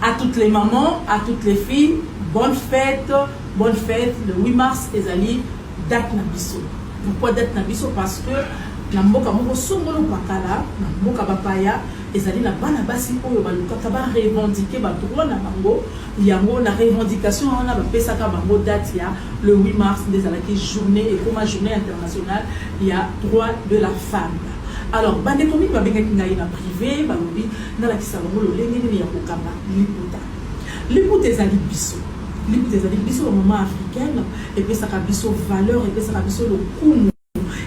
À toutes les mamans, à toutes les filles, bonne fête, bonne fête. Le 8 mars, ezali date na biso. Pourquoi date na biso Parce que na mboka moko songolo pakala, na mboka bapaya, ezali na bana basi oyo balukaka ba revendiquer ba droit na bango yango na revendication wana bapesaka bango date ya le 8 mars nde ezalaki journée ekoma journée internationale ya droit de la femme Alors bandeko mingi babengaki ngai na prive balobi nalakisa bango lolenge nini ya kokanga liputa liputa ezali biso liputa ezali biso bamama africaine epesaka biso valeur epesaka biso lokumu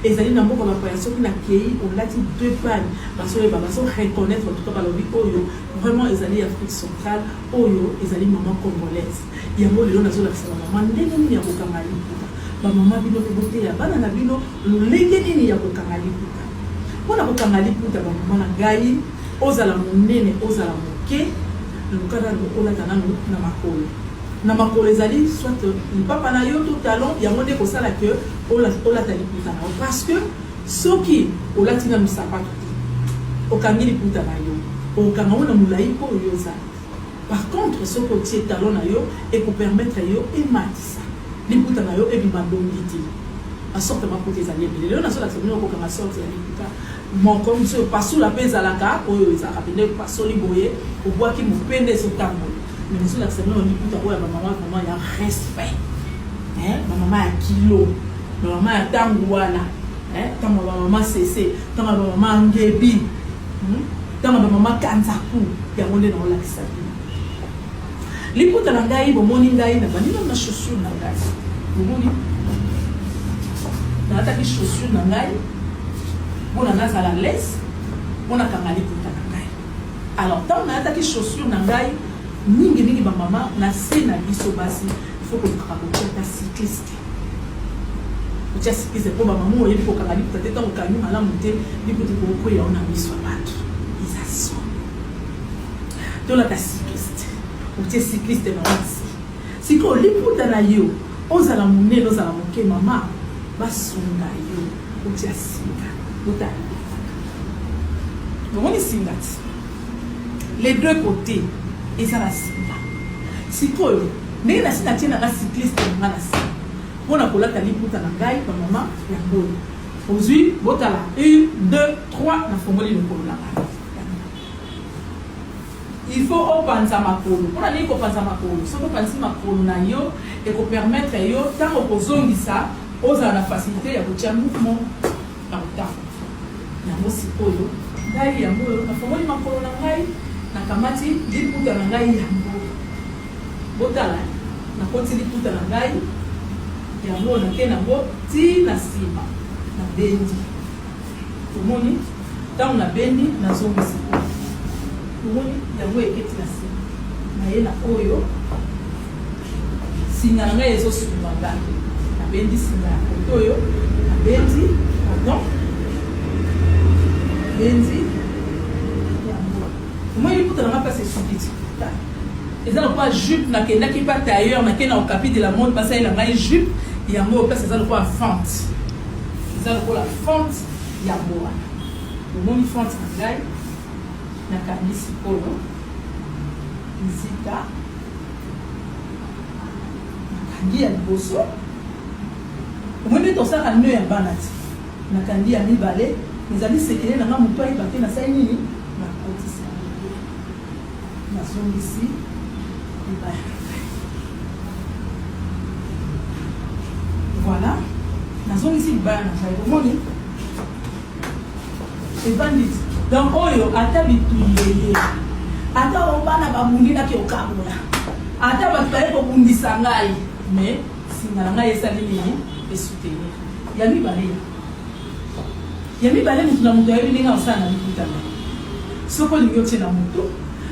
ezali na mboka bapaya soki nakei olati deux pane bazoyeba bazo reconnaître tuka balobi oyo vraiment ezali afrique centrale oyo ezali mama congolaise yango lelo nazolakisa bamama ndenge nini ya kokanga liputa bamama bino mpe boteya bana na bino Lolenge nini ya kokanga liputa? Mpo na kokanga liputa, bambuma na ngai, ozala monene, ozala moke, luka nanu olata nanu na makolo. Na makolo ezali soit lipapa na yo to talon, yango nde ekosala que olata liputa na yo parce que soki olati nanu sapato te, okangi liputa na yo, okokanga yango na molai oyo yo ozali. Par contre soki otie talon na yo eko permettre yo ematisa liputa na yo ebima dongi te. Ba sorte ya maputa ezali ebele. Lelo nazo lakisa bino kokanga sorte ya liputa moko mosusu oyo pasula pe ezalaka oyo ezalaka pende pasoli boye obwaki mopende ezo tambola. Mais nazo lakisa bino liputa oyo ya ba mama vraiment ya respect. Hein ba mama ya kilo. Ba mama ya tangu wana. Hein tangu ya ba mama sese, tangu ya ba mama ngebi. Hum? Tanga na mama Kanzaku, yango nde na olakisa bino. Liputa na ngai bomoni ngai na bandi na chaussure na ngai. Bomoni? Na ataki chaussure na ngai pona nazala lese pona kanga liputa na ngai. Alors tant na ataki chaussure na ngai mingi mingi ba mama na se na biso basi il faut ko kaka ko ta cycliste. otya sikize mpo bamama oyebi kokanga liputa te ntango okangi malamu te liputa ekokwela ona miso ya bato eza son tolata cycliste otie cycliste na wasi sikoyo liputa na yo ozala monene ozala moke mama basunga yo otya singa otala omoni singa ti les deux côtés eza na singa sikoyo Ndenge na si na tie na nga cycliste na nga na si mpo na kolata liputa na ngai ba mama ya ngolo ozwi botala 1 2 3 na fongoli lokolo na ngai il faut opanza makolo mpo na nini kopanza makolo soki opanzi makolo na yo ekopermettre yo ntango okozongisa ozala na facilité ya kotya mouvement na kotanga yango sikoyo ngai yango oyo nafongoli makolo na ngai nakamati liputa na ngai yango Botala, nakoti liputa na ngai, yango nake nango ti na nsima, nabendi. Tomoni, ntango nabendi, nazongi sikoyo. Tomoni, yango eketi na nsima, naye na oyo singa na ngai ezosunga ngai nabendi singa ya koto oyo nabendi pardon nabendi yango omoni liputa na ngai mpasi esuki ti Eza lokola jupe na kendaki pa tailleur na ke na okapi de la mode ba salela ngai jupe yango oyo pesa eza lokola fente eza lokola fente ya boa omoni fente na ngai na kangi sikoyo nzita nakangi ya liboso omoni nde tosalaka nio ya bana ti nakangi ya mibale ezali sekele na ngai moto ayeba te nasali nini Nazongisi libaya na ngai. Voilà. Nazongisi libaya na ngai. Omoni? Evandi. Donc oyo ata bituyeye. Ata obana babundi na kiokabola. Ata bato baye kobundisa ngai. Mais singa na ngai esali nini? Esoutenir. Ya mibale. Ya mibale, moto na moto ayebi ndenge akosala na liputa na ye. Soki olingi otie na moto,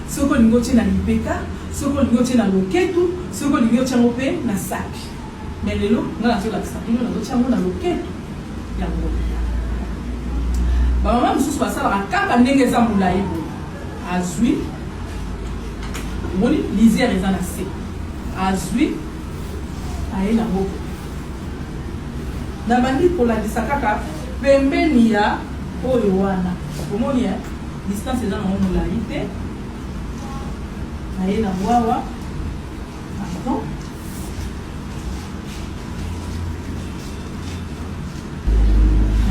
soki olingi otie na lipeka, soki olingi otie na loketu, soki olingi otie yango mpe na saki. Me lelo ngai nazolakisa bino nazotia yango na loketu yango. Bamama mosusu basalaka kaka ndenge eza molai boye, azwi omoni lisiere eza na se, azwi aye na moko Na bandi kolakisa kaka pembeni ya oyo wana. Omoni ya distance eza nango molai te. Naye na wawa. Pardon.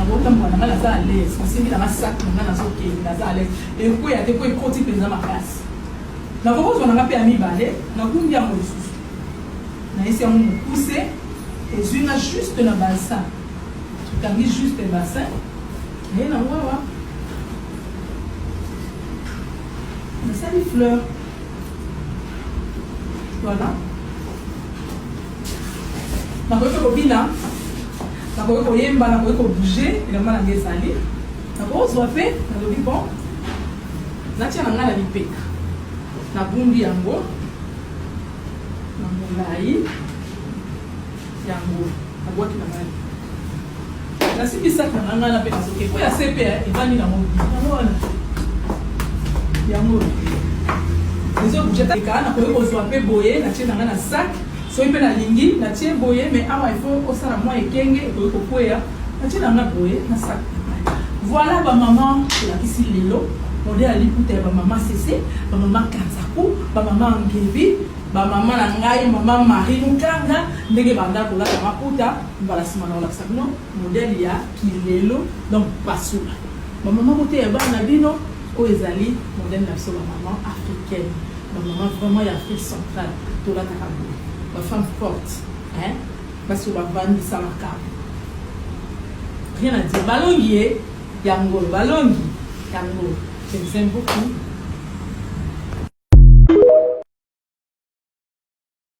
nabotambola na ngai naza alaise nasimbi na masak na ngai nazokende naza alaise ekweya te po ekoti mpenza makasi nakokozwa na ngai mpe ya mibale nakumbi yango lisusu nayesi yango mokuse ezwi nga juste na balsa tokangi juste bassin naye na wawa nasali fleur voilà nakoki kobina nakoki koyemba nakoki kobouge elamba nanga ezali nakozwa mpe nalobi bon natia na ngai na lipeka nabundi yango na molai yango abwaki na ngai nasimbi saki na ngai na mpe nazoke mpo ya sepe evandi na mobi yango wana yango ezobujateka nakoki kozwa mpe boye natie na ngai na saki soki mpe nalingi natie boye mai awa ifo osala mwa ekenge ekoki kokweya natie na ngai boye na saki voilà bamama olakisi lelo modele ya liputa ya bamama sese bamama kanza Ba mama Ngeli, ba mama na ngai mama Marie Mukanga ndenge banda kolata maputa mbala sima na kolakisa bino modèle ya kilelo donc basula. Ba mama boteya bana na bino oyo ezali modèle na biso ba mama africaine. Ba mama vraiment ya Afrique centrale tolataka boye. Ba femme forte hein basi oyo bavandisa makambo rien à dire balongi ye Ya ngolo balongi ya ngolo je vous aime beaucoup